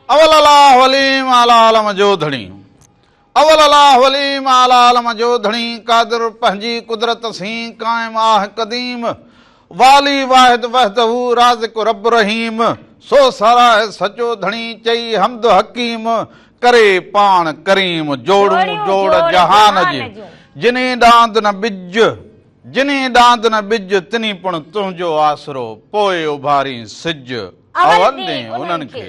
اول الله وليم اعليٰ عالم جو ڌڻي اول الاهه العليم اعليٰ عالم جو ڌڻي قادر پنهنجي قدرت سين قائم آهه قديم والي واحد وحده رازق رب رحيم سو ساراهه سچو ڌڻي چئي حمد حڪيم ڪري پاڻ ڪريم جوڙون جوڙ جهان جي جني ڏاند نه ٻج جني ڏاند نه ٻج تني پڻ تنهنجو آسرو پوء اڀارين سج اول ڏين انهن کي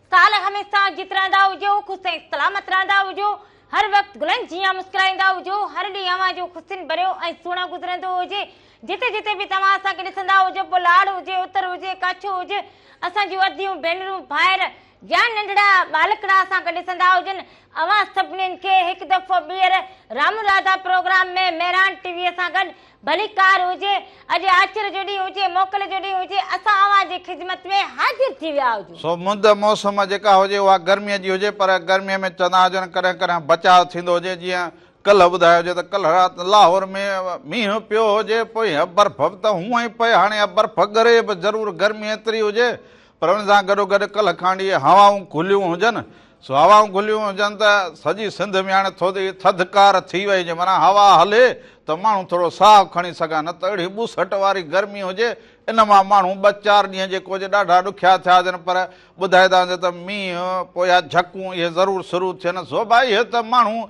سال هميشه جيت رهندا هجو خوش ۽ سلامت رهندا هجو هر وقت گلن جيان مسڪرائيندا هجو هر ڏينهن اوهان جو خوشين ڀريو ۽ سهڻو گذرندو هجي جتي جتي به توهان اسان کي ڏسندا هجو پوء لاڙ هجي اتر هجي ڪڇ هجي اسان جون اديون ڀينرون ڀائر يا ننڍڙا ٻالڪڙا اسان کي ڏسندا هجن اوهان سڀنين کي هڪ دفعو ٻيهر رامون راڌا پروگرام ۾ مهراڻ ٽي وي سان گڏ ڀلي ڪار هجي، اڄ آچر جو ڏينهن هجي، موڪل جو ڏينهن هجي، اسان اوهان جي خدمت ۾ حاضر ٿي ويا هجون. سو مند موسم جيڪا هجي اها گرميء جي هجي، پر گرميء ۾ چوندا هجن ڪڏهن ڪڏهن بچاء ٿيندو هجي، جيئن ڪلهه ٻڌايو هجي ته ڪلهه رات لاهور ۾ مينهن پيو هجي، پوء اها برف به ته هونئن ئي پئي، هاڻي اها برف ڳري به ضرور گرمي ايتري هجي، پر ان سان گڏوگڏ ڪلهه کان اهي هوائون گهليون هجن، سو هوائون گهليون هجن ته سڄي سنڌ ۾ هاڻي ٿڌ ئي ٿڌڪار ٿي وئي هجي، معنيٰ هوا هلي ته ماڻهو ٿورو ساهه کڻي سگهن، نه ته اهڙي ٻوسٽ واري گرمي هجي، ان مان ماڻهو ٻه چار ڏينهن جي ڪوجهه ڏاڍا ڏکيا ٿيا هجن، پر ٻڌائي ٿا وڃن ته مينهن پويا جهڪون اهي ضرور شروع ٿين، سو به اهي ته ماڻهو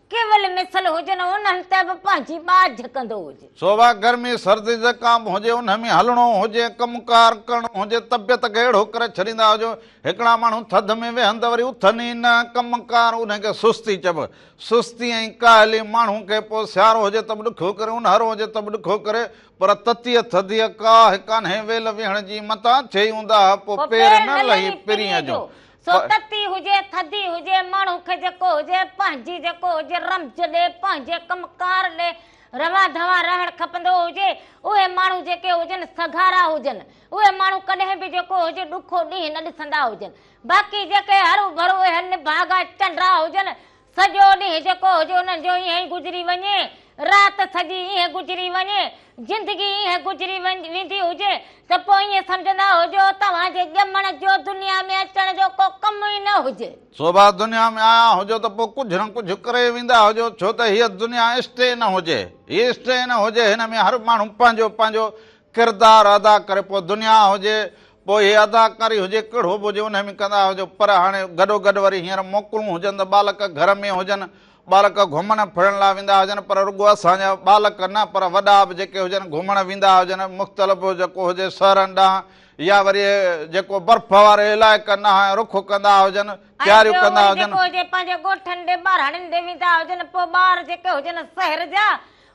ڪيول مثل هجن انهن تي به پنهنجي ٻاجهه ڪندو هجي. سو اها گرمي سردي جيڪا به هجي انهن ۾ هلڻو هجي ڪم ڪار ڪرڻو هجي طبيعت کي اهڙو ڪري ڇڏيندا هجو هڪڙا ماڻهو ٿڌ ۾ ويهن ته وري اٿن ئي نه ڪم ڪار انهن کي سستي چئبو سستي ۽ ڪاهلي ماڻهو کي پوء سيارو هجي ته به ڏکيو ڪري اونهارو هجي ته به ڏکيو ڪري پر تتيء ٿڌيء ڪاهه ڪانهي ويل ويهڻ جي متان ٿئي اونداهه پوء پير نه لهي پرينء جو سو تتي هجي ٿڌي هجي ماڻهو کي جيڪو هجي پنهنجي جيڪو هجي رمز ڏي پنهنجي ڪم ڪار ڏي روان ڌوان رهڻ کپندو هجي اهي ماڻهو جيڪي هجن سگهارا هجن اهي ماڻهو ڪڏهن به جيڪو هجي ڏکو ڏينهن نه ڏسندا هجن باقي جيڪي هرو ڀرو اهي نڀاڳا چنڊا هجن سڄو ڏينهن جيڪو هجي انهن جو ائين ئي گذري وڃي، رات سڄي ائين گذري وڃي، زندگي ائين گذري ويندي هجي ته پوء ائين سمجهندا هجو توهان جي ڄمڻ جو دنيا ۾ اچڻ جو ڪو ڪم ئي نه هجي. سو به دنيا ۾ آيا هجو ته پوء ڪجهه نه ڪجهه ڪري ويندا هجو، ڇو ته هيء دنيا اسٽي نه هجي، هي اسٽي نه هجي، هن ۾ هر ماڻهو پنهنجو پنهنجو ڪردار ادا ڪري، پوء دنيا هجي، پوء هي اداڪاري هجي ڪهڙو به هجي انهي ۾ ڪندا هجو پر هاڻي گڏو گڏ وري هينئر موڪلون هجن ته ٻالڪ گهر ۾ هجن ٻالڪ گهمڻ ڦرڻ لاء ويندا هجن پر رڳو اسان جا ٻالڪ نه پر وڏا به جيڪي هجن گهمڻ ويندا هجن مختلف جيڪو هجي شهرن ڏانهن يا وري جيڪو برف واري علائقن ڏانهن رخ ڪندا هجن تياريون ڪندا هجن. ۽ ٻيو وري جيڪو هجي پنهنجي ڳوٺن ڏي ٻاراڻين ڏي ويندا هجن پوء ٻار جيڪي هجن شهر جا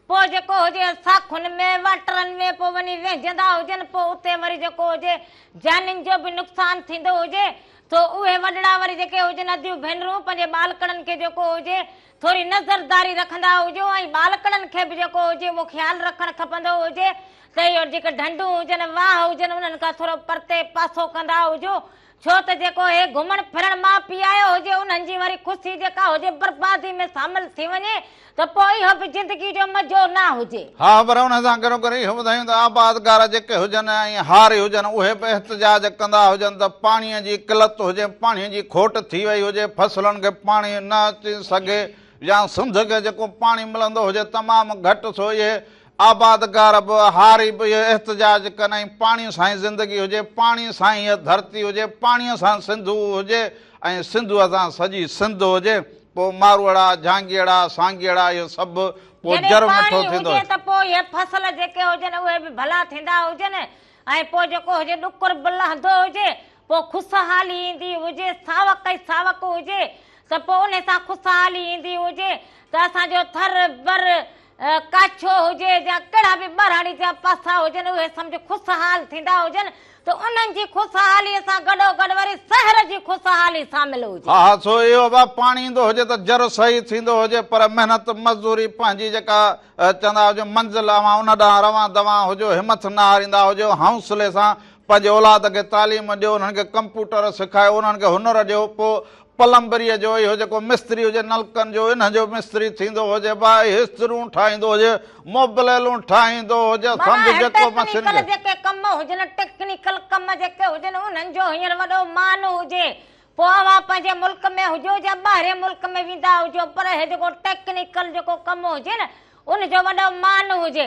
پوء جيڪو هجي ساکن ۾ واٽرن ۾ پوء وڃي ويهجندا هجن پوء اتي وري جيڪو هجي جانين جو به نقصان ٿيندو هجي ٿو اهي وڏڙا وري جيڪي هجن اديون ڀينرون پنهنجي ٻالڪڙن کي جيڪو هجي ٿوري نظرداري رکندا هجو ۽ ٻالڪڙن کي به جيڪو هجي اهو خيال رکڻ کپندو هجي ته اهي جيڪي ڍنڍون هجن واهه هجن انهن کان ٿورو پرتي پاسو ڪندا هجو ڇو ته جيڪو اهي گهمڻ ڦرڻ مان پيايو هجي انهن جي واري خوشي جيڪا هجي بربادي ۾ شامل ٿي وڃي ته پوء اهو به زندگي جو مزو نه هجي. ها پر ان سان گڏو گڏ اهو ٻڌايون ته آبادگار جيڪي هجن ۽ هاري هجن اهي به احتجاج ڪندا هجن ته پاڻي جي قلت هجي پاڻي جي کوٽ ٿي وئي هجي فصلن کي پاڻي نه اچي سگهي يا سنڌ کي جيڪو پاڻي ملندو هجي تمام گهٽ سو اهي آبادگار به، هاري به اهو احتجاج ڪن ۽ پاڻي سان ئي زندگي هجي، پاڻي سان ئي هيء ڌرتي هجي، پاڻيء سان سنڌو هجي ۽ سنڌوء سان سڄي سنڌ هجي، پوء ماروئڙا، جهانگيئڙا، سانگيئڙا اهو سڀ پوء جڏهن جرم پاڻي مٺو ٿيندو. هجي ته پوء هي فصل جيڪي هجن اهي به ڀلا ٿيندا هجن ۽ پوء جيڪو هجي ڏکر به لهندو هجي پوء خوشحالي ايندي هجي، ساوڪ ئي ساوڪ هجي ته پوء ان سان خوشحالي ايندي هجي ته اسان جو ٿر، بر، ڪاڇو هجي يا ڪهڙا به ٻهراڙي جا پاسا هجن اهي سمجهه خوشحال ٿيندا هجن ته انهن جي خوشحاليء سان گڏوگڏ وري سحر جي خوشحالي سامل هجي. ها ها سو اهو به پاڻي ايندو هجي ته جر صحيح ٿيندو هجي پر محنت مزدوري پنهنجي جيڪا چوندا هجون منزل اوهان ان ڏانهن روان دوان هجو همٿ نه هاريندا هجو حوصلي سان پنهنجي اولاد کي تعليم ڏيو، انهن کي ڪمپوٽر سکايو، انهن کي هنر ڏيو، پوء پلمبريء جو، اهو جيڪو مستري هجي نلڪن جو، انهن جو مستري ٿيندو هجي، باهه هسترون ٺاهيندو هجي، موبليلون ٺاهيندو هجي، سمجهه جيڪو مشين کي. جيڪي ڪم هجن، ٽيڪنيڪل ڪم جيڪي هجن، انهن جو هينئر وڏو مان هجي، پوء اوهان پنهنجي ملڪ ۾ هجو يا ٻاهرين ملڪ ۾ ويندا هجو، پر اهي جيڪو ٽيڪنيڪل جيڪو ڪم هجي نه، ان جو وڏو مان هجي.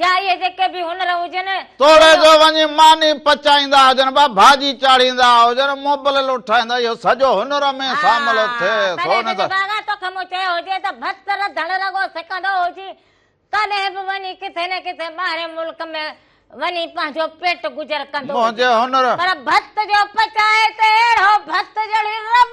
جا اهي جيڪي به هنر هجن. توڙي جو وڃي ماني پچائيندا هجن ڀا ڀاڄي چاڙهيندا هجن مبلل اٺائيندا اهو سڄو هنر ۾ سامل ٿئي ها ٿو تڏهن نه ته. سڄڀاڳا توکي مون چيو هجي ته بس رڌڻ رڳو سکندو هجي تڏهن به وڃي ڪٿي نه ڪٿي ٻاهرين ملڪ ۾ وڃي پنهنجو پيٽ گذر ڪندو هجي منهنجي هنر. پر ڀت جو پچائي تي اهڙو ڀت جهڙي رٻ.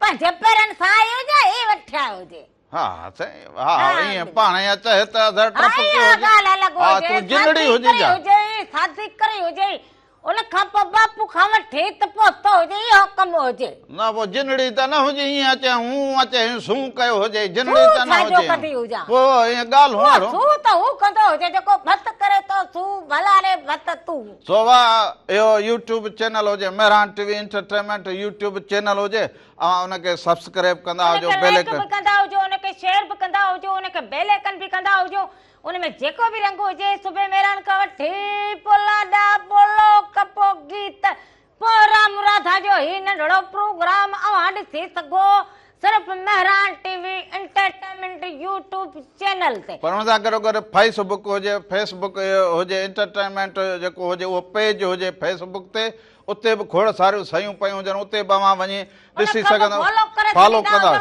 پر جبرن سان اهو جا هي وٺيا هجي. ها سائين ها ائين پاڻ يا چهه ته اڌر ٽپ ڪيو هجي. اها ڳالهه الڳ هجي. ها تون جنڙي هجي جا. سازي ڪري هجي. ان کان پوء باپو کان وٺي ته پهتو هجي اهو ڪم هجي. نه پوء جنڙي ته نه هجي ائين اچي هون اچي هين سون ڪيو هجي جنڙي ته نه هجي ها. پوء ائين ڳالهون اهڙو. سون ته هو ڪندو هجي جيڪو ڀت ڪري ٿو سون ڀلا ري ڀت تون. سواء اهو يوٽيوب چينل هجي Mehran T V entertainment YouTube channel هجي اوهان ان کي سبسڪريب ڪندا ان هجو کي بيل لائيڪ به ايڪن ڪندا هجو ان کي شيئر به ڪندا هجو ان کي بيل ايڪن به ڪندا هجو ان ۾ جيڪو به رنگ هجي صبح مهراڻ کان وٺي پولاڏا پولو ڪپو گيت پوء رام راڌا جو هي ننڍڙو پروگرام اوهان ڏسي سگهو صرف Mehran T V entertainment YouTube channel تي. پر ان سان گڏو گڏ فيس بڪ هجي فيس بڪ هجي انٽرٽينمينٽ جيڪو هجي اهو پيج هجي فيس بڪ تي اتي به کوڙ ساريون سيون پيون هجن اتي به اوهان وڃي ڏسي سگهندا فالو ڪندا.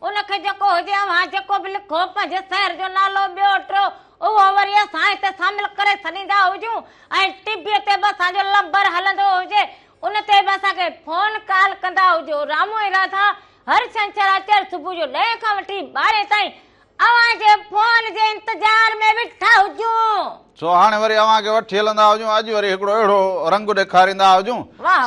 ان کي جيڪو هجي اوهان جيڪو به لکو پنهنجي شهر جو نالو ٻيو ٽيو اهو وري اسان هتي شامل ڪري ڇڏيندا هجون ۽ ٽي بي تي به اسان جو لمبر هلندو هجي ان تي به اسان کي فون ڪال ڪندا هجو رامو ۽ راڌا هر ڇنڇر آچر صبح جو ڏهين کان وٺي ٻارهين تائين اوهان جي فون جي انتظار ۾ ويٺا هجون. سو هاڻي وري اوهان کي وٺي هلندا هجون اڄ وري هڪڙو اهڙو رنگ ڏيکاريندا هجون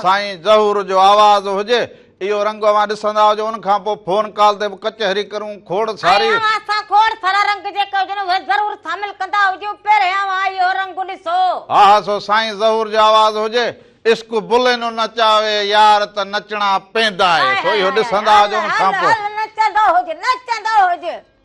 سائين ظهور جو آواز هجي اهو رنگ اوهان ڏسندا هجو ان کان پوء فون ڪال تي به ڪچهري ڪرون کوڙ ساري ۽ اوهان سان کوڙ سارا رنگ جيڪي هجن اهي ضرور شامل ڪندا هجون پهرين اوهان اهو رنگ ڏسو. ها ها سو سائين ظهور جو آواز هجي عشق بلينو نچاوي يار ته نچڻا پيندا آهي سو اهو ڏسندا هجو ان کان پوء. هل هل هل نچندو هج نچندو هج.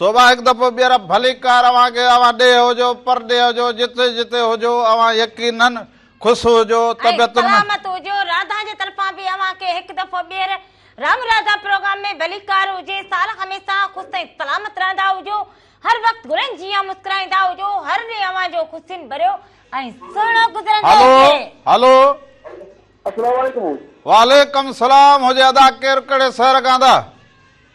صوبا هڪ دفعو ٻيهر ڀليڪار اوهان کي اوهان ڏيهه هجو پرڏيهه هجو جتي جتي هجو اوهان يقيناً خوش هجو ۽ طبيعتن ۾ سلامت هجو راڌا جي طرفان به اوهان کي هڪ دفعو ٻيهر رام راڌا پروگرام ۾ ڀليڪار هجي سال هميشه خوش ۽ سلامت رهندا هجو هر وقت گلن جيان مسڪرائيندا هجو هر ڏينهن اوهان جو خوشين ڀريو ۽ سهڻو گذرندو هلو هجي هلو السلام عليڪم وعليڪم السلام هجي ادا ڪير ڪهڙي شهر کان ادا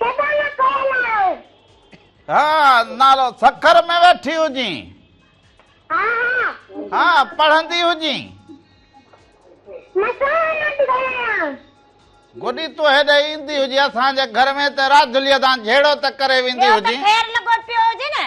سيبانا ڪوئل آهي. ها نالو سکر ۾ ويٺي هجين. ها ها. ها پڙهندي هجين. گڏي تو هيڏي ايندي هجي اسان جي گهر ۾ ته راجلي دان جهيڙو ته ڪري ويندي هجي خير لڳو پيو هجي نه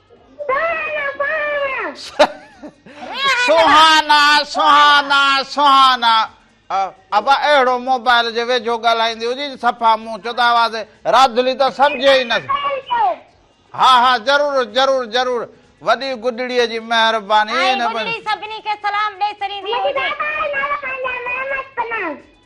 سهانا سهانا سهانا ابا اهڙو موبائل جي ويجهو ڳالهائيندي هجي صفا مون چودا آواز راڌلي ته سمجهي ئي نه ها ها ضرور ضرور ضرور وڏي گڏڙي جي مهرباني سڀني کي سلام ڏئي ڇڏيندي هجي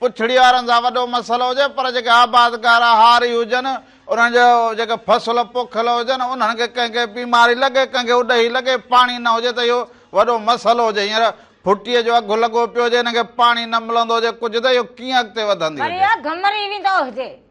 پڇڙي وارن سان وڏو مسئلو هجي پر جيڪي آبادگار هاري هجن انهن جا جيڪي فصل پوکيل هجن انهن کي ڪنهن کي بيماري لڳي ڪنهن کي اڏهي لڳي پاڻي نه هجي ته اهو وڏو مسئلو هجي هينئر ڦٽي جو اگهه لڳو پيو هجي ان کي پاڻي نه ملندو هجي ڪجهه ته اهو ڪيئن اڳتي وڌندي هجي. وري اگهه مري ويندو هجي.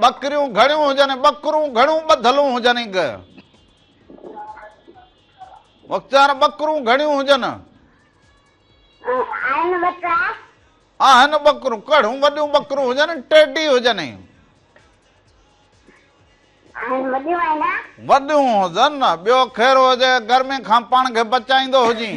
ٻڪريون گهڻيون هجن، ٻڪرون گهڻون ٻڌلون هجن. گ مختيار ٻڪرون گهڻيون هجن. آهن ٻڪرا. آهن ٻڪرون ڪهڙون وڏيون ٻڪرون هجن، ٽيڊي هجن. آهن وڏيون آهن. وڏيون هجن، ٻيو خير هجي، گرمي کان پاڻ کي بچائيندو هجين.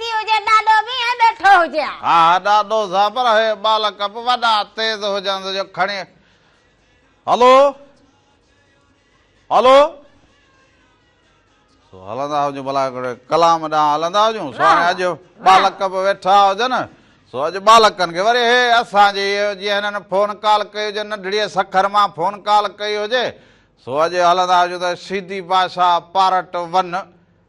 ٿي هجي ڏاڏو به ائين ٻيٺو هجي ها. ها ڏاڏو صاحب پر هي ٻالڪ به وڏا تيز هجنس جو کڻي هلو هلو سو هلندا هجون ڀلا هڪڙي ڪلام ڏانهن هلندا هجون سو هاڻي اڄ ٻالڪ به ويٺا هجن سو اڄ ٻالڪن کي وري هي اسان جي جي هنن فون ڪال ڪئي هجي ننڍڙي سکر مان فون ڪال ڪئي هجي سو اڄ هلندا هجون ته شيدي بادشاهه پارٽ ون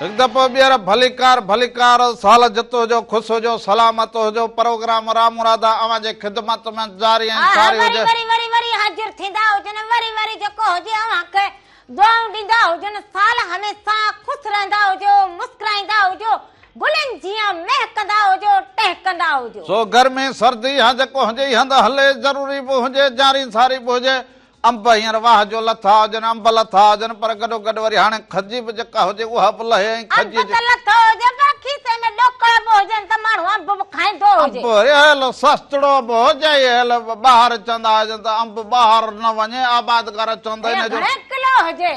هڪ دفعو ٻيهر ڀليڪار ڀليڪار سال جت هجو خوش هجو سلامت هجو پروگرام رامرادا اوهان جي خدمت ۾ جاري ۽ آهه ساري وري هجي. وري وري وري حاضر ٿيندا هجن وري وري جيڪو هجي اوهان کي دعائون ڏيندا هجن سال هميشه خوش رهندا هجو مسڪرائيندا هجو گلن جيان مهڪندا هجو ٽهڪندا هجو. سو گرمي سردي يا جيڪو هجي هي هنڌ هلي ضروري به هجي جاري ساري به هجي انب هينئر واهه جو لٿا هجن، انب لٿا هجن، پر گڏوگڏ وري هاڻي کجي به جيڪا هجي اها به لهي ۽ کجيء انب جي. ته لٿو هجي پر کيسي ۾ ڏوڪڙ به هجن ته ماڻهو انب به کائيندو هجي. انب رهيل سستڙو به هجي ۽ هيل به ٻاهر اچندا هجن ته انب ٻاهر نه وڃي، آبادگار چون ته هيء ان جو. گهڻي ڪلو هجي.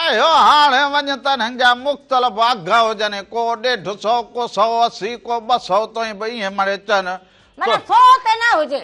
اهو هاڻي وڃي ته انهن جا مختلف اگهه هجن ۽ ڪو ڏيڍ سئو، ڪو سئو اسي، ڪو ٻه سئو تائين به ايئن مڙي چئن. معنيٰ سئو تي نه هجي.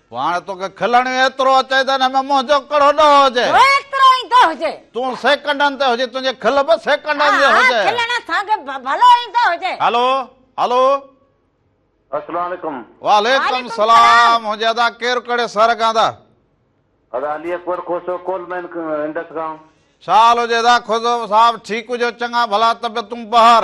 پوء هاڻي توکي کلڻيون ايترو اچئي ته ان ۾ منهنجو ڪهڙو ڏوهه هجي؟ ڏوهه ايترو ايندو هجي. تون سيڪنڊن تي هجين، تنهنجي کل به سيڪنڊن جي هجي. ها ها کلڻ اسان کي ڀلو ايندو هجي. هلو هلو. السلام عليڪم. وعليڪم السلام. هونجي ادا ڪير ڪهڙي سر کان ادا؟ ادا علي اڪبر کوسو ڪول مين انڊس کان. ڇا حال هجي ادا کوسو صاحب ٺيڪ هجو چڱا ڀلا طبيعتون بهر.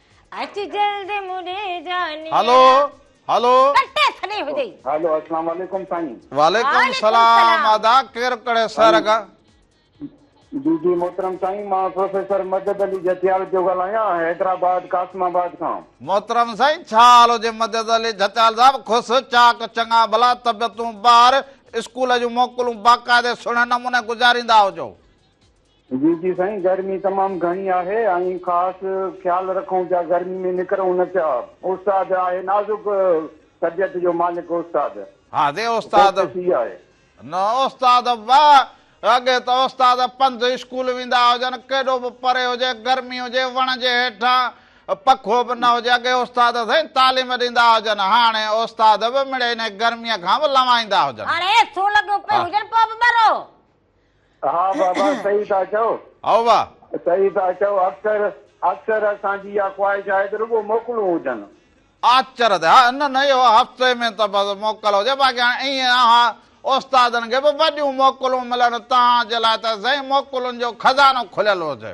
اچ جلد مڙي جاني هلو هلو ڪٽي سڏي هجي هلو السلام عليڪم سائين وعليڪم السلام ادا ڪير ڪڙي سر اگا جي جي محترم سائين مان پروفيسر مدد علي جتيال پيو ڳالهايان حيدرآباد قاسم آباد کان محترم سائين ڇا حال هجي مدد علي جتيال صاحب خوس چاڪ چڱا ڀلا طبيعتون ٻار اسڪول جون موڪلون باقاعدي سهڻي نموني گذاريندا هجو جي جي سائين گرمي تمام گهڻي آهي ۽ خاص خيال رکون پيا گرمي ۾ نڪرون نه پيا استاد آهي نازڪ طبيعت جو مالڪ استاد ها جي استاد ڪوشش اها آهي. نه استاد واه اڳي ته استاد پنڌ اسڪول ويندا هجن ڪيڏو به پري هجي گرمي هجي وڻ جي هيٺان پکو به نه هجي اڳي استاد سائين تعليم ڏيندا هجن هاڻي استاد به مڙئي انهي گرمي کان به لنوائيندا هجن. هاڻي ايسيون لڳيون پيون هجن پوء به ٻرو. ها بابا صحيح ٿا چئو. هائو وا. صحيح ٿا چئو اڪثر اڪثر اسان جي اها خواهش آهي ته رڳو موڪلون هجن. آچر تي ها نه نه اهو هفتي ۾ ته بس موڪل هجي باقي هاڻي ائين اها استادن کي به وڏيون موڪلون ملن تهان جي لاء ته سائين موڪلن جو خزانو کليل هجي.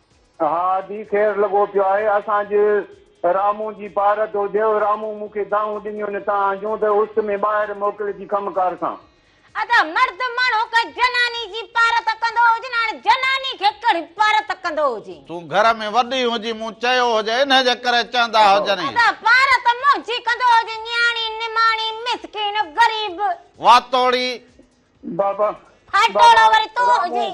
ها ادي خير لڳو پيو آهي اسان جي رامون جي پار ٿو ٿئي او رامون مون کي دانهون ڏنيون نه تان جون ته اس ۾ ٻاهر موڪل جي ڪم ڪار سان. ادا مرد ماڻهو ڪنهن جناني جي پار ته ڪندو هجي نه هاڻي جناني کي ڪهڙي پار ته ڪندو هجي. تون گهر ۾ وڏي هجين مون چيو هجي انهي جي ڪري چوندا هجن ادا پار ته منهنجي ڪندو هجي نياڻي نماڻي مسڪين غريب. واتوڙي. بابا. ڦاٽوڙو وري تون هجين.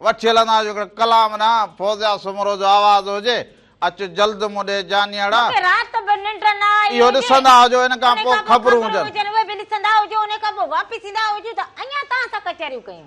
وٺي هلندا جو هڪڙو ڪلام نه فوزيا سومرو جو آواز هجي اچ جلد مون ڏي جانيئڙا. مونکي رات به ننڊ نه آئي هجي. اهو ڏسندا هجو ان کان پوء خبرون هجن. اهي به ڏسندا هجو ان کان پوء واپس ايندا هجو ته اڃا توهان سان ڪچهريون ڪيون.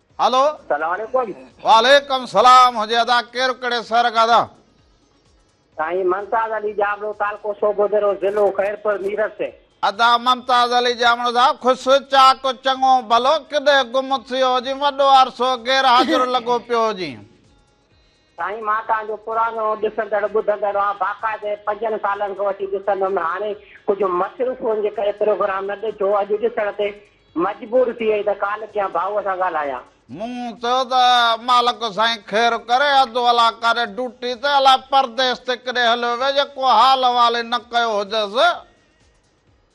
هلو سلام عليڪم وعليڪم سلام هجي ادا ڪير ڪهڙي سهر کان ادا. سائين ممتاز علي ڄامڙو تعلقو سوڀودرو ضلعو خيرپور ميرس. ادا ممتاز علي ڄامڙو صاحب خوش چاڪ چڱو ڀلو ڪڏهن گم ٿيو هجين وڏو عرصو غير حاضر لڳو پيو هجين. سائين مان توهان جو پراڻو ڏسندڙ ٻڌندڙ آ باقاعدي پنجن سالن کان وٺي ڏسندم هاڻي ڪجهه مصروفون جي ڪري پروگرام نه ڏٺو اڄ ڏسڻ تي مجبور ٿي وئي ته ڪال ڪيان ڀائوء سان ڳالهايان. مون چيو ته مالڪ سائين خير ڪري اڌ ولا ڪاري ڊوٽي تي الائي پرديس تي ڪڏهن هليو ويو جيڪو حال احوال ئي نه ڪيو هجس.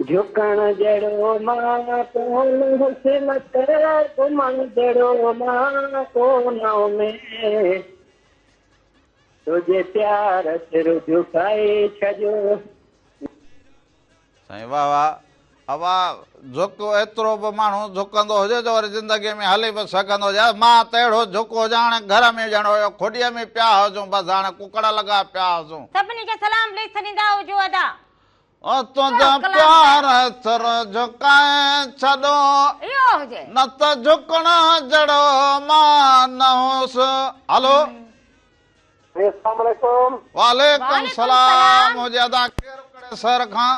جهڪڻ جهڙو مان ڪون حسن تي گهمڻ جهڙو مان ڪون اميد تنهنجي پيار سر جهڪائي ڇڏيو. سائين واه واه اوا جهڪ ايترو به ماڻهو جهڪندو هجي جو وري زندگي ۾ هلي به سگهندو هجي مان ته اهڙو جهڪ هجان هاڻي گهر ۾ ڄڻ هيو کوڏيء ۾ پيا هجون بس هاڻي ڪڪڙ لڳا پيا هجون. سڀني کي سلام پليز سڏيندا هجو ادا. تنهنجا پيار سر جھڪائي ڇڏو نه ته جھڪڻ جھڙو مان نه هوس هلو جي السلام عليڪم وعليڪم السلام مجھي ادا ڪير ڪڙي سر کان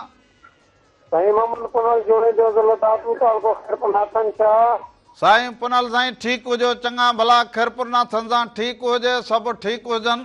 سائين محمد پنل جوڻي جو ضلع دادو تعلقو خيرپور ناٿن شاھ سائين پنل سائين ٺيڪ هجو چڱا ڀلا خيرپور ناٿن سان ٺيڪ هجي سڀ ٺيڪ هجن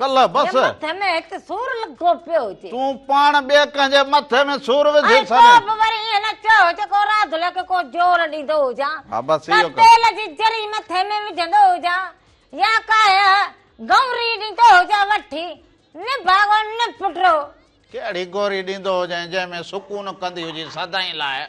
ڪلهه بس. جي مٿي ۾ هڪ سور لڳو پيو هجي. تون پاڻ ٻئي ڪنهن جي مٿي ۾ سور وجهي ڇڏين. ۽ پوء به وري ائين نه چئو جو ڪو راڌلي کي ڪو زور ڏيندو هجان. ها بس اهو ڪر. تيل جي جري مٿي ۾ وجهندو هجان يا ڪاهي گئوري ڏيندو هجان وٺي نڀاڳو نپٽرو. ڪهڙي گوري ڏيندو هجين جنهن ۾ سڪون ڪندي هجين سدائين لاء.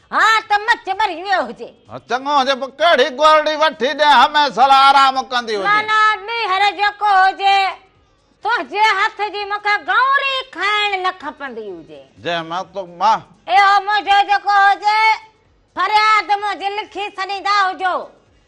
ها ته مچ ٻري ويو هجي. چڱو هجي پوء ڪهڙي گورڙي وٺي ڏيان همه سال آرام ڪندي هجي. نانا ٻيهر جيڪو هجي. تنهنجي هٿ جي مون کي گوري کائڻ نه کپندي هجي. جنهن مان تو مان. اهو منهنجو جيڪو هجي. فرياد منهنجي لکي سڏيندا هجو.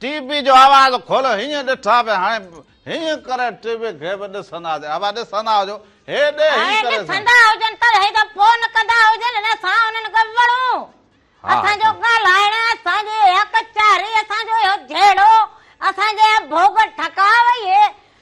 ٽي وي جو آواز کول هينئن ڏٺا به هاڻي هينئن ڪري ٽي وي کي به ڏسندا جي اوا ڏسندا هجو هي ڏي هي هاڻي ڪري سان ڏسندا هجن ته هي ته فون ڪندا هجن نه اسان انهن کي وڙهون ها اسان جو سائين ڳالهائڻ اسان جي اهيا ڪچهري اسان جو اهيو جهيڙو اسان جي اهيا ڀوڳ ٺڪاء وئي هي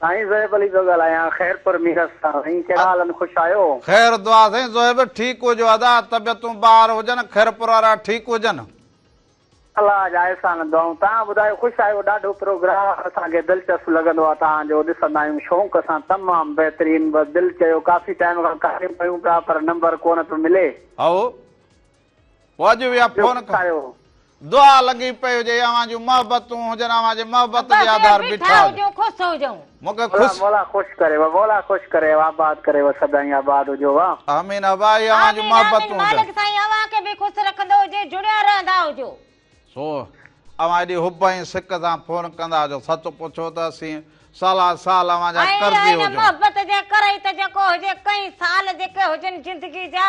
سائين زوهيب علي پيو ڳالهايان خيرپور ميرس تان سائين ڪهڙا حال ان خوش آهيو. خير دعا سائين زوهيب ٺيڪ هجو ادا طبيعتون ٻاهر هجن خيرپور وارا ٺيڪ هجن. الله جا احسان دعائون تان ٻڌايو خوش آهيو ڏاڍو پروگرام اسان کي دلچسپ لڳندو آهي تان جو ڏسندا آهيون شونق سان تمام بهترين بس دل چيو ڪافي ٽائيم کان ڪاليون ڪيون پيا پر نمبر ڪونه پيو ملي. هائو. واجو ويا فون ڪايو. دعا لڳي پئي هجي اوهان جون محبتون هجن اوهان جي محبت جي آڌار بيٺا هجون خوش هجون مونکي خوش مولا خوش ڪري و مولا خوش ڪري و آباد ڪري و سدائين آباد هجو وا آمين ابا هي اوهان جون محبتون هجن مالڪ سائين اوهان کي به خوش رکندو هجي جڙيا رهندا هجو سو اوهان ايڏي حب ۽ سڪ سان فون ڪندا هجو سچ پڇو ته اسين سالا سال اوهان جا قرضي هجون محبت جي ڪري ته جيڪو هجي ڪئين سال جيڪي هجن زندگي جا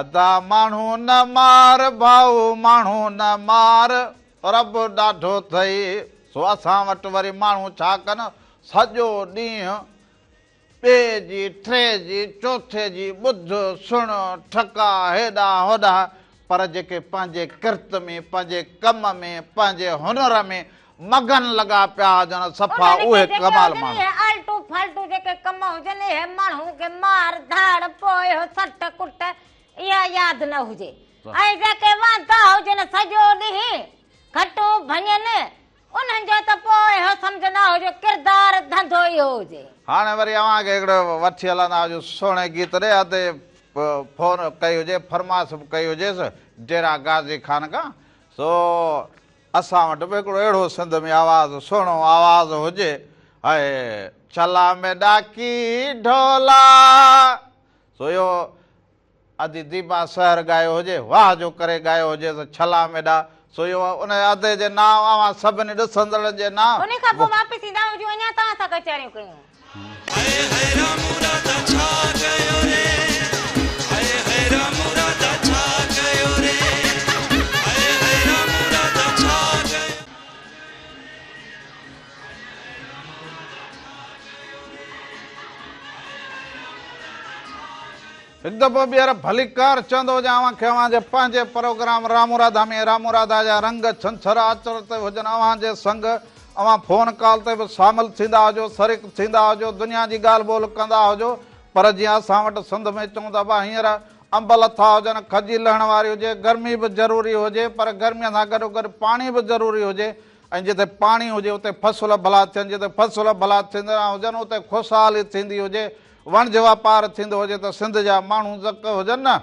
ادا ماڻهو نه مار ڀائو ماڻهو نه مار رب ڏاڍو ٿئي سو اسان وٽ وري ماڻهو ڇا ڪن سڄو ڏينهن ٻئي جي ٽي جي چوٿي جي ٻڌ سڻ ٺڪا هيڏانهن هوڏانهن پر جيڪي پنهنجي ڪرت ۾ پنهنجي ڪم ۾ پنهنجي هنر ۾ مگن لڳا پيا هجن صفا انهن اهي کي جيڪي ڪمال هجن ماڻهو. اهي الٽو ڦالٽو جيڪي ڪم هجن اهي ماڻهو کي مار ڌاڙ پوء اهو سٽ ڪٽ اها ياد نه هجي ۽ جيڪي واندا هجن سڄو ڏينهن گهٽو ڀڃن انهن جو ته پوء اهو سمجهندا هجو ڪردار ڌنڌو اهو هجي. هاڻي وري اوهان کي هڪڙو وٺي هلندا هجون سهڻي گيت ڏي ادي فون ڪئي هجي فرمائش به ڪئي هجيس ڊيرا غازي خان کان سو اسان وٽ به هڪڙو اهڙو سنڌ ۾ آواز سهڻو آواز هجي هئ چلا ۾ ڏاڪي ڍولا سو اهو ادي ديبا سحر ڳايو هجي واهه جو ڪري ڳايو هجي سو چلا ۾ ڏا سو اهو ان ادي جي نانء اوهان سڀني ڏسندڙن جي نانء. انهي کان پوء واپس ايندا آهيون جو اڃا توهان سان ڪچهريون ڪيون. هڪ دفعو ٻيهر ڀليڪار چوندو هجان اوهان کي اوهان جي پنهنجي پروگرام راموراداء ۾ راموراداء جا رنگ ڇنڇر آچر تي هجن اوهان جي سنگ اوهان فون ڪال تي به شامل ٿيندا هجو، شريڪ ٿيندا هجو، دنيا جي ڳالهه ٻولهه ڪندا هجو، پر جيئن اسان وٽ سنڌ ۾ چون ته ابا هينئر انب لٿا هجن، کجي لهڻ واري هجي، گرمي به ضروري هجي، پر گرميء سان گڏوگڏ پاڻي به ضروري هجي ۽ جتي پاڻي هجي اتي فصل ڀلا ٿين، جتي فصل ڀلا ٿيندڙان هجن اتي خوشحالي ٿيندي هجي، وڻج واپار ٿيندو هجي ته سنڌ جا ماڻهو زڪ هجن نه.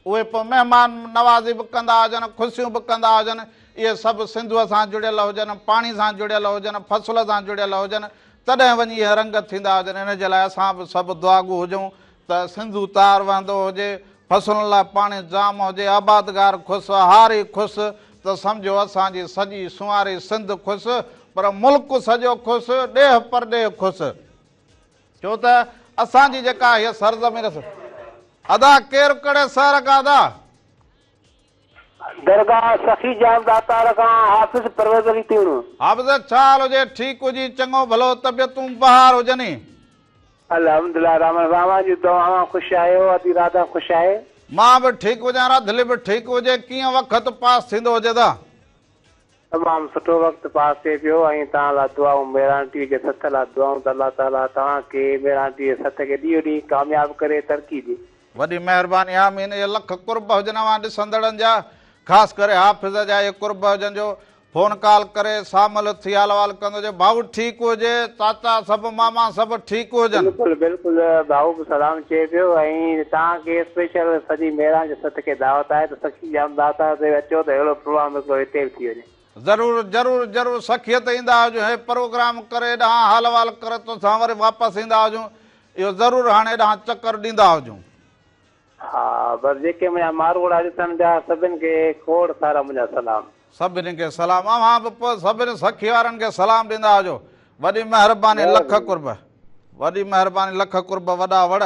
اهي پوء مهمان نوازي به ڪندا هجن، خوشيون به ڪندا هجن، اهي سڀ سنڌوء سان جڙيل هجن، پاڻي سان جڙيل هجن، فصل سان جڙيل هجن، تڏهن وڃي اهي رنگ ٿيندا هجن. ان جي لاء اسان به سڀ دعاگو هجون ته سنڌو تار وهندو هجي، فصلن لاء پاڻي جام هجي، آبادگار خوش، هاري خوش ته سمجهو اسان جي سڄي سنواري سنڌ خوش، پر ملڪ سڄو خوش، ڏيهه پرڏيهه خوش. ڇو ته اسان جي جيڪا هيء سرزمين سر. ادا ڪير ڪھڙي سحر کان ادا. درگاھ سخي جان داتار کان حافظ پرويز علي تيڻو. حافظ ڇا حال هجي ٺيڪ هجين چڱو ڀلو طبيعتون بهار هجني. الحمدلله رحمن اوهان جون دعائون خوش آهيو ادي راڌا خوش آهي. مان به ٺيڪ هجان راڌلي به ٺيڪ هجي ڪيئن وقت پاس ٿيندو هجي ادا. تمام سٺو وقت پاس ٿئي پيو ۽ توهان لا دعائون ميرانٽي جي سٿ لا دعائون ته الله تعالي توهان کي ميرانٽي جي سٿ کي ڏينهون ڏينهن ڪامياب ڪري ترقي ڏي. وڏي مهرباني آمين اهي لک قرب هجن اوهان ڏسندڙن جا خاص ڪري حافظ جا اهي قرب هجن جو فون ڪال ڪري سامل ٿي حال احوال ڪندو جو ڀائو ٺيڪ هجي چاچا سڀ ماما سڀ ٺيڪ هجن. بلڪل بلڪل ڀائو به سلام چئي پيو ۽ توهان کي اسپيشل سڄي ميران جي سٿ کي دعوت آهي ته سکي. جام داتا تي اچو ته اهڙو پروام هڪڙو هتي به ٿي وڃي. ضرور ضرور ضرور سکيت ايندا هجون هي پروگرام ڪري ايڏانهن حال وال ڪري توسان وري واپس ايندا هجون اهو ضرور هاڻي ايڏانهن چڪر ڏيندا هجون. ها بس جيڪي منهنجا ماروئڙا ڏسڻ جا سڀن کي کوڙ سارا منهنجا سلام. سڀني کي سلام اوهان به پوء سڀني سخي وارن کي سلام ڏيندا هجو وڏي مهرباني لک قرب وڏي مهرباني لک قرب وڏا وڙ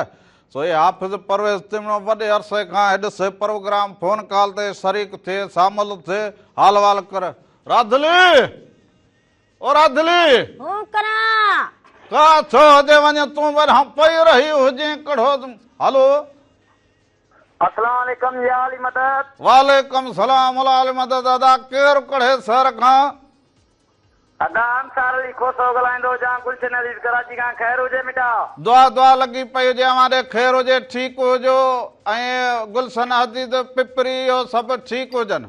سو اي حافظ پرويز تمڻو وڏي عرصي کان هيڏ سي پروگرام فون ڪال تي شريڪ ٿي شامل ٿي حال وال ڪر راڌلي او راڌلي هون ڪران ڪا ٿو هجي وڃي تون ورهان پئي رهي هجين ڪڙهو هلو اسلام عليڪم يا علي مدد. وعليڪم سلام الا علي مدد ادا ڪير ڪھڙي سھر کان. ادا انصار علي کوسو ڳالھائيندو جان گلشن عزيز ڪراچي کان خير ھجي مٽا. دعا دعا لڳي پئي ھجي اوھان ڏي خير ھجي ٺيڪ ھجو ۽ گلشن عزيز پپري اھو سڀ ٺيڪ ھجن.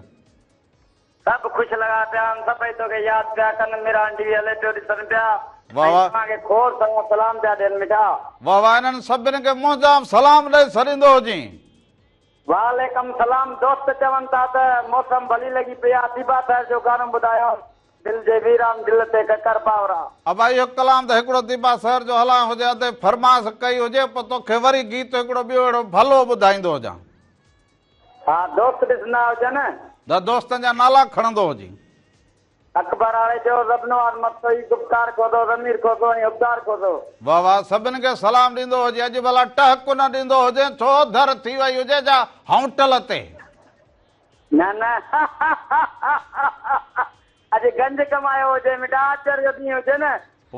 سڀ خوش لڳا پيا آهن سڀئي توکي ياد پيا ڪن مير آنٽي هلي پيو ڏسن پيا واھ ۽ واھ. توهان کي کوڙ سارا سلام پيا ڏين مٺا. واھ واھ انهن سڀن کي منهنجا سلام ڏئي سريندو هجين. وعليڪم سلام دوست چون ٿا ته موسم ڀلي لڳي پئي آ ٿيبا ٿر جو گانو ٻڌايو دل جي ويران دل تي ڪڪر پاورا. ابا اهو ڪلام ته هڪڙو ٿيبا ٿر جو هلان هجي ادي فرمائش ڪئي هجي پوء توکي وري گيت هڪڙو ٻيو اهڙو ڀلو ٻڌائيندو هجان. ها دوست ڏسندا هجن. ده دوستن جا نالا کڻندو هجين. اڪبر آڙي جو، زبنواز متوئي، گفتار کوسو، ضمير کوسو ۽ حبدار کوسو. واه واه سڀن کي سلام ڏيندو هجين. اڄ ڀلا ٽهڪ نه ڏيندو هجين ڇو ڌر ٿي وئي هجي جا هونٽل تي. نه نه اڄ گنج ڪمايو هجين مڊا آچر جو ڏينهن هجين.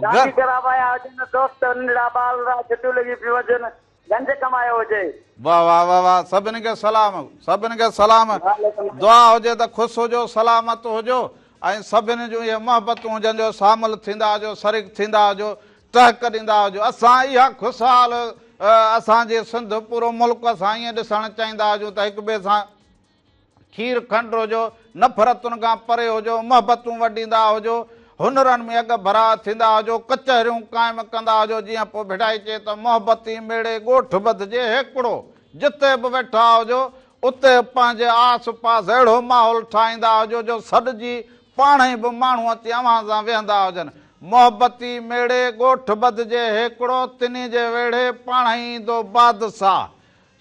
شادي ڪرا وايا هجين دوست ننڍڙا ٻال را ڇٽيون لڳي پيون هجين. گنج ڪمايو هجي. واه واه واه واه سڀن کي سلام سڀن کي سلام دعا هجي ته خوش هجو سلامت هجو ۽ سڀن جون اهي محبتون هجن جو شامل ٿيندا هجو شريڪ ٿيندا هجو ٽهڪ ڏيندا هجو اسان اها خوشحال اسان جي سنڌ پورو ملڪ اسان ائين ڏسڻ چاهيندا هجون ته هڪ ٻئي سان کير کنڊ هجو، نفرتن کان پري هجو، محبتون وڍيندا هجو، هنرن ۾ اڳ ڀرا ٿيندا هجو، ڪچهريون قائم ڪندا هجو، جيئن پوء ڀيٽائي چئي ته محبتي ميڙي ڳوٺ ٻڌجي هيڪڙو، جتي به ويٺا هجو، اتي پنهنجي آس پاس اهڙو ماحول ٺاهيندا هجو جو سڏجي پاڻهي به ماڻهو اچي اوهان سان ويهندا هجن. محبتي ميڙي ڳوٺ ٻڌجي هيڪڙو، تنهين جي ويڙهي پاڻهي ايندو بادساهه،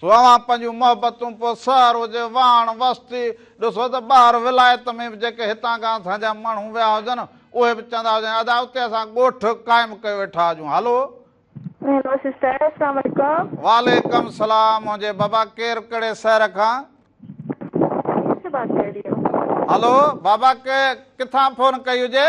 اوهان پنهنجون محبتون پوء سهارو جي واهڻ واسطي ڏسو ته ٻاهر ولايت ۾ به جيڪي هتان کان اسان جا ماڻهو ويا هجن، اهي به چوندا هجن، ادا اتي اسان ڳوٺ قائم ڪيو ويٺا هجون، هلو! هيلو سسٽر اسلام عليڪم. وعليڪم السلام منهنجي بابا ڪير ڪهڙي شهر کان. ڪشمير سي بات ڪر رهي هو. هلو بابا ڪي ڪٿان فون ڪئي هجي.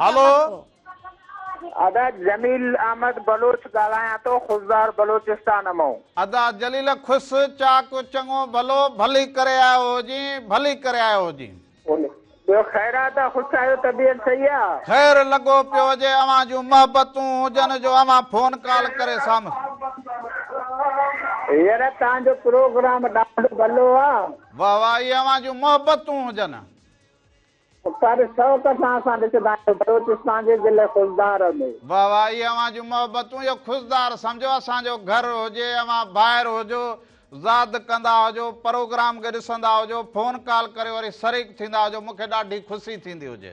هلو. ادا جميل احمد بلوچ ڳالهايان ٿو خضدار بلوچستان مئون. ادا جليل خس چاڪ چڱو ڀلو ڀلي ڪري آيو هجين ڀلي ڪري آيو هجين. ٻيو خير آ ادا خوش آهيو طبيعت صحيح آ. خير لڳو پيو هجي اوهان جون محبتون هجن جو اوهان فون ڪال ڪري سامهون. يره تان جو پروگرام ڏاڍو ڀلو آ. واه واه اهي اوهان جون محبتون هجن. پر شوق سان اسان ڏسندا آهيون بلوچستان جي ضلعي خضدار ۾. واه واه اهي اوهان جون محبتون اهو خضدار سمجهو اسان جو گهر هجي اوهان ڀائر هجو زاد ڪندا هجو پروگرام کي ڏسندا هجو فون ڪال ڪريو وري شريڪ ٿيندا هجو مونکي ڏاڍي خوشي ٿيندي هجي.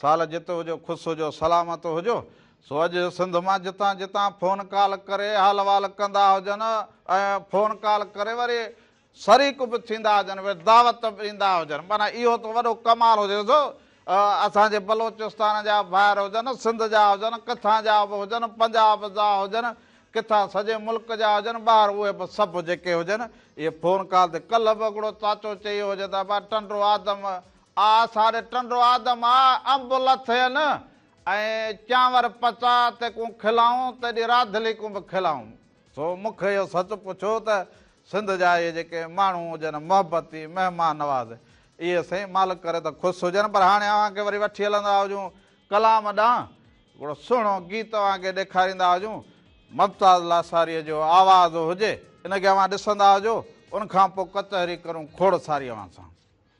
سال جت هجو خوس هجو سلامت هجو سو اڄ سنڌ مان جتان جتان فون ڪال ڪري حال وال ڪندا هجن ۽ فون ڪال ڪري وري شريڪ به ٿيندا هجن وري دعوت به ڏيندا هجن معنيٰ اهو ته وڏو ڪمال هجي سو اسان جي بلوچستان جا ڀائر هجن سنڌ جا هجن ڪٿان جا به هجن پنجاب جا هجن ڪٿا سڄي ملڪ جا هجن ٻاهر اهي به سڀ جيڪي هجن اهي فون ڪال تي ڪلهه به هڪڙو چاچو چيو هجي ته ابا ٽنڊو آدم آء ساري ٽنڊو آدم آء انب لٿين ۽ چانور پچاء تي ڪون کلائون تيڏي راڌلي ڪون به کلائون سو مون کي اهو سچ پڇو ته سنڌ جا اهي جيڪي ماڻهو هجن محبتي مهمان نواز اهي سائين مالڪ ڪري ته خوش هجن پر هاڻي اوهان کي وري وٺي هلندا هجون ڪلام ڏانهن هڪڙو سهڻو گيت اوهان کي ڏيکاريندا هجون ممتاز لاساريء جو آواز هجي ان کي اوهان ڏسندا هجو ان کان پوء ڪچهري ڪرون کوڙ ساري اوهان سان.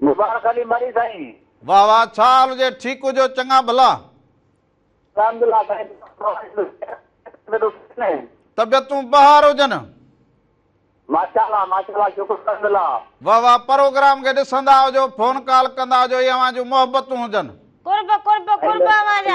مبارڪ علي مري سائين. واھ واھ ڇا حال ھجي ٺيڪ ھجو چڱا ڀلا. الحمدلله سائين طبيعتون بحار ھجن. ماشاء الله ماشاء الله شڪر الحمدلله. واھ واھ پروگرام کي ڏسندا ھجو فون ڪال ڪندا ھجو اھي اوھان جون محبتون ھجن. قرب قرب قرب اوھان جا.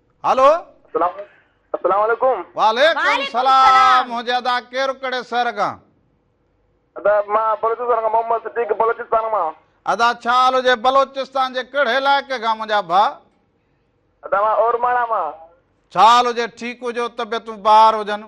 هلو السلام عليڪم وعليڪم سلام منهنجي ادا ڪير ڪهڙي شهر کان ادا مان بلوچستان کان محمد صديق بلوچستان مان ادا ڇا حال هجي بلوچستان جي ڪهڙي علائقي کان منهنجا ڀا ادا مان اورماڻا مان ڇا حال هجي ٺيڪ هجو طبيعتون بهار هجن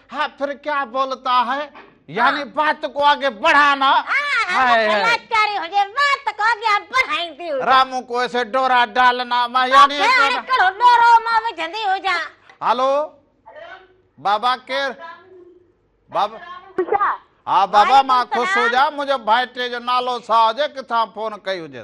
ها پھر ڪيا بولتا هي يعني بات ڪو آگي بڙھانا رامو ڪو ايسي ڊورا ڊالنا ما يعني هلو بابا ڪير بابا ها بابا مان خوش هجا منهنجو ڀائٽي جو نالو سا هجي ڪٿان فون ڪئي هجي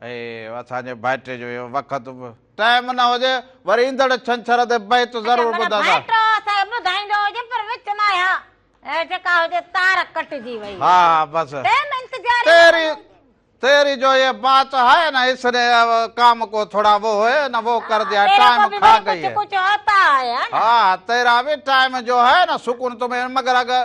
اهي اسان جي ڀائٽي جو اهو وقت به ٽائيم نه هجي وري ايندڙ ڇنڇر تي بيت ضرور ٻڌندا ڀائٽو سائين ٻڌائيندو هجي پر وچ مان اها جيڪا هجي تار ڪٽجي وئي ها بس ٽائيم انتظار تيري تيري جو هي بات هي نه اس ني ڪام ڪو ٿوڙا وو هي نه وو ڪر ديا ٽائيم کا گئي هي ها تيرا به ٽائيم جو هي نه سڪون تمهين مگر اگر